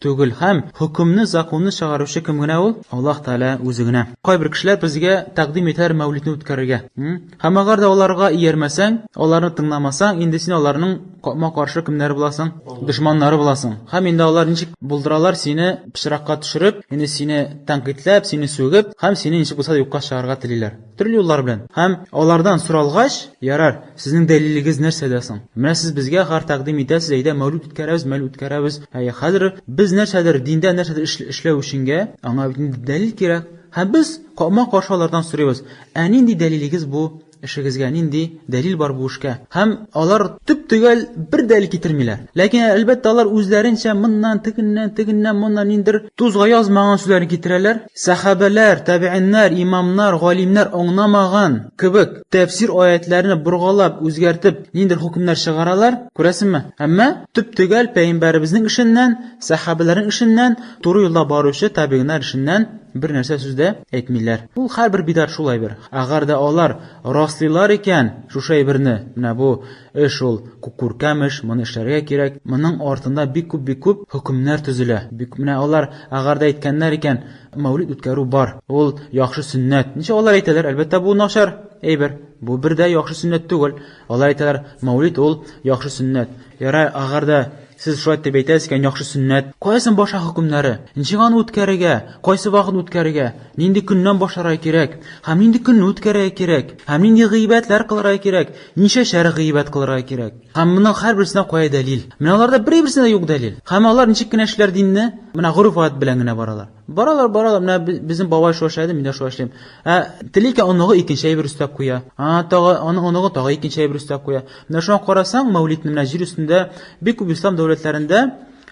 Түгел, һәм хөкемне, законны чыгаручы кем генә ул? Аллаһ Тәгалә үзе генә. Кайбер кешеләр безгә тәкъдим итәр мәүлидне үткәрергә. Һәм әгәр дә аларга иярмәсәң, аларны тыңламасаң, инде син аларның капма-каршы кемнәре буласың? Дошманнары буласың. Һәм инде алар ничек булдыралар сине пычракка төшереп, инде сине тәнкыйтьләп, сине сүгеп, һәм сине ничек булса да юкка чыгарырга телиләр. Төрле юллар белән. Һәм алардан соралгач, ярар, сезнең дәлилегез нәрсәдә соң? Менә сез безгә гар тәкъдим итәсез, әйдә, мәүлүд үткәрәбез, мәүлүд үткәрәбез. Ә хәзер без нәрсәдер, диндә нәрсәдер эшләү өченгә, аңа бит инде дәлил кирәк. Һәм без капма-каршы алардан сорыйбыз, Ә нинди дәлилегез бу эшегезгә, нинди дәлил бар бу эшкә? Һәм алар төп-төгәл бер дәлил китермиләр. Ләкин, әлбәттә, алар үзләренчә моннан, тегеннән, тегеннән, моннан ниндер Тузга язмаган сүзләрне китерәләр. Сәхабәләр, тәбигиннәр, имамнар, галимнәр аңнамаган кебек тәфсир аятьләрне боргалап, үзгәртеп, ниндидер хөкемнәр чыгаралар, күрәсеңме? Әмма төп-төгәл пәйгамбәребезнең эшеннән, сәхабәләрнең эшеннән, туры юлда баручы табигиннар эшеннән бер нәрсә сүз дә әйтмиләр. Ул һәрбер бидар шул әйбер. Әгәр дә алар раслыйлар икән шушы әйберне, менә бу Э шул, күркәм эш, моны эшләргә кирәк, моның артында бик күп, бик күп хөкемнәр төзелә, бик менә алар, әгәр дә әйткәннәр икән, мәүлид үткәрү бар, ул яхшы сөннәт, ничек алар әйтәләр, әлбәттә, бу начар әйбер, бу бер дә яхшы сөннәт түгел, алар әйтәләр, мәүлид ул яхшы сөннәт. Ярар, әгәр дә Сез шулай дип әйтәсез икән, яхшы сөннәт. Кая соң башлар хөкемнәре? Ничек аны үткәрергә? Кайсы вакыт үткәрергә? Нинди көннән башларга кирәк? Һәм нинди көнне үткәрергә кирәк? Һәм нинди гыйбадәтләр кылырга кирәк? Ничәшәр гыйбадәт кылырга кирәк? Һәм моның һәрберсенә кая дәлил? Менә аларда берәйберсенә дә юк дәлил. Һәм алар ничек кенә эшлиләр динне? Менә гореф-гадәт белән генә баралар. Баралар, баралар, менә безнең бабай шулай эшләде, мин дә шулай эшлим. Ә тели икән оныгы икенче әйбер өстәп куя. А, тагы аның оныгы тагы икенче әйбер өстәп куя. Менә шуңа карасаң, Мәүлидне менә җир өстендә бик күп ислам дәүләтләрендә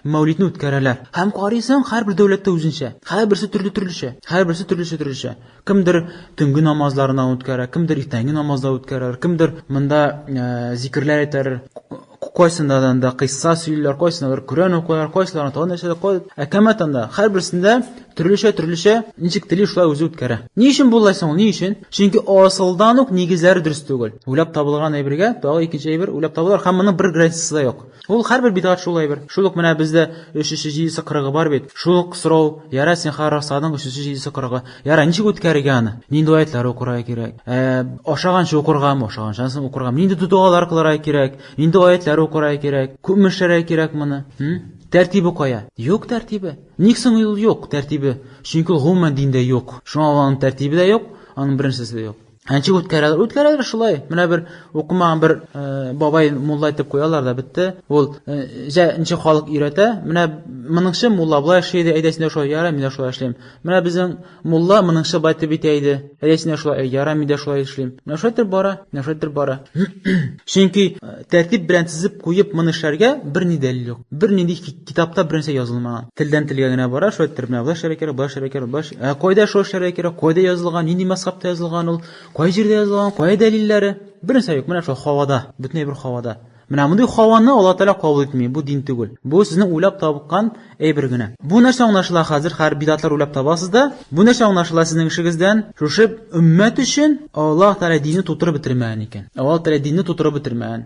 Мәүлидне үткәрәләр. Һәм карыйсың, һәрбер дәүләттә үзенчә. Һәрберсе төрле-төрлечә. Һәрберсе төрлечә-төрлечә. Кемдер төнге намазларына үткәрә, кемдер иртәнге намазда үткәрер, кемдер монда э, зикерләр әйтер, кайсындадан да кыйсса сөйлиләр, кайсынадыр Коръән укыйлар, кайсыларына тагын нәрсәдә кой. Ә кәмәт анда һәрберсендә төрлечә төрлечә ничек тели шулай үзе үткәрә. Ни өчен булай соң? Ни өчен? Чөнки асылдан ук нигезләре дөрес түгел. Уйлап табылган әйбергә тагы икенче әйбер уйлап табылар һәм моның бер гарантиясе дә юк. Ул һәрбер бидгать шул әйбер. Шул ук менә бездә өчесе, җидесе, кырыгы бар бит. Шул ук сорау, ярай син хәер расланың өчесе, җидесе, кырыгы. Ярай, ничек үткәрергә аны? Нинди аятьләр укырга кирәк? Ә, ашаганчы укыргамы, ашаганчан соң укыргамы? Нинди догалар кылырга кирәк? Нинди аятьләр укырга кирәк? Күпме эшләргә кирәк моны? Хм? Тәртибе кая? Юк тәртибе. Ник соң ул юк, тәртибе? Чөнки ул гомумән диндә юк. Шуңа ул аның тәртибе дә юк, аның беренчесе дә юк. Әнче үткәрәләр. Үткәрәләр шулай. Менә бер укымаган бер э, бабай мулла итеп куялар да бетте. Ул э, җә ничә халык өйрәтә. Менә моныңчы мулла болай эшли иде, әйдә син дә шулай яра, мин дә шулай эшлим. Менә безнең мулла моныңчы бай итеп итә иде. Әйдә син дә шулай яра, мин дә шулай эшлим. Менә шулай итеп бара, менә шулай итеп бара. Чөнки э, тәртип белән тезеп куеп моны эшләргә берни дәлил юк. Бернинди Китапта бернәрсә язылмаган. Телдән телгә генә бара, шулай иттереп менә болай эшләргә кирәк, болай эшләргә кирәк, болай. Ә кайда шулай эшләргә кирәк? Кайда язылган? Нинди мәсхәбтә язылган ул? Кай җирдә язылган? Кая дәлилләре? Бернәрсә юк. Менә шул хавада, бөтенләй бер хавада. Менә мондый хаваны Алла Тәгалә кабул итми. Бу дин түгел. Бу сезнең уйлап табыккан әйбер генә. Бу нәрсә аңлашыла хәзер? Хәр бидатлар уйлап табасыз да. Бу нәрсә аңлашыла сезнең эшегездән? Шушы өммәт өчен Алла Тәгалә динне тутырып бетермәгән икән. Алла Тәгалә динне тутырып бетермәгән.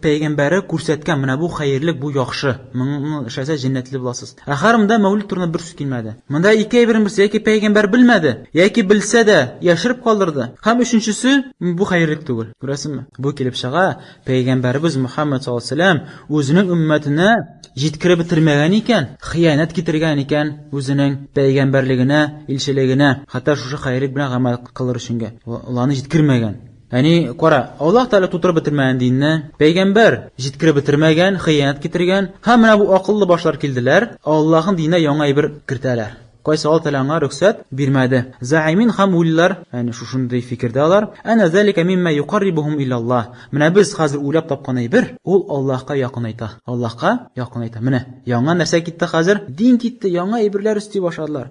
Пәйгамбәре күрсәткән менә бу хәерлек, бу яхшы. Моны эшләсә җәннәтле буласыз. Ә Хәрмдә мәүлид турында бер сүз килмәде. Монда ике әйбернең берсе, яки пәйгамбәр белмәде, яки белсә дә, яшереп калдырды, һәм өченчесе, бу хәерлек түгел. Күрәсезме? Бу килеп чыга, пәйгамбәребез Мөхәммәд саллаллаһу алейһи ва сәлләм үзенең өммәтенә җиткереп бетермәгән икән, хыянәт китергән икән үзенең пәйгамбәрлегенә, илчелегенә, хәтта шушы хәерлек белән гамәл кылыр өченгә. Аларны җиткермәгән. Әни, кара, Аллаһ Тәгалә тутырып бетермәгән динне, пәйгамбәр җиткереп бетермәгән, хыянәт китергән, һәм менә бу акыллы башлар килделәр, Аллаһның диненә яңа әйбер кертәләр. Кайсы Аллаһ Тәгалә аңа рөхсәт бирмәде. Заимин һәм уйлыйлар, әни, шушындый фикердә алар, Әнә залика мимма юкаррибухум илаллаһ, менә без хәзер уйлап тапкан әйбер, ул Аллаһка якынайта, Аллаһка якынайта. Менә яңа нәрсә китте хәзер, дин китте, яңа әйберләр өсти башладылар.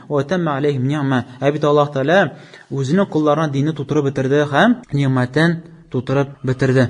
Ватамма алейхим ни'ма. Ә бит Аллаһ Тәгалә үзенең колларына динне тутырып бетерде һәм нигъмәтен тутырып бетерде.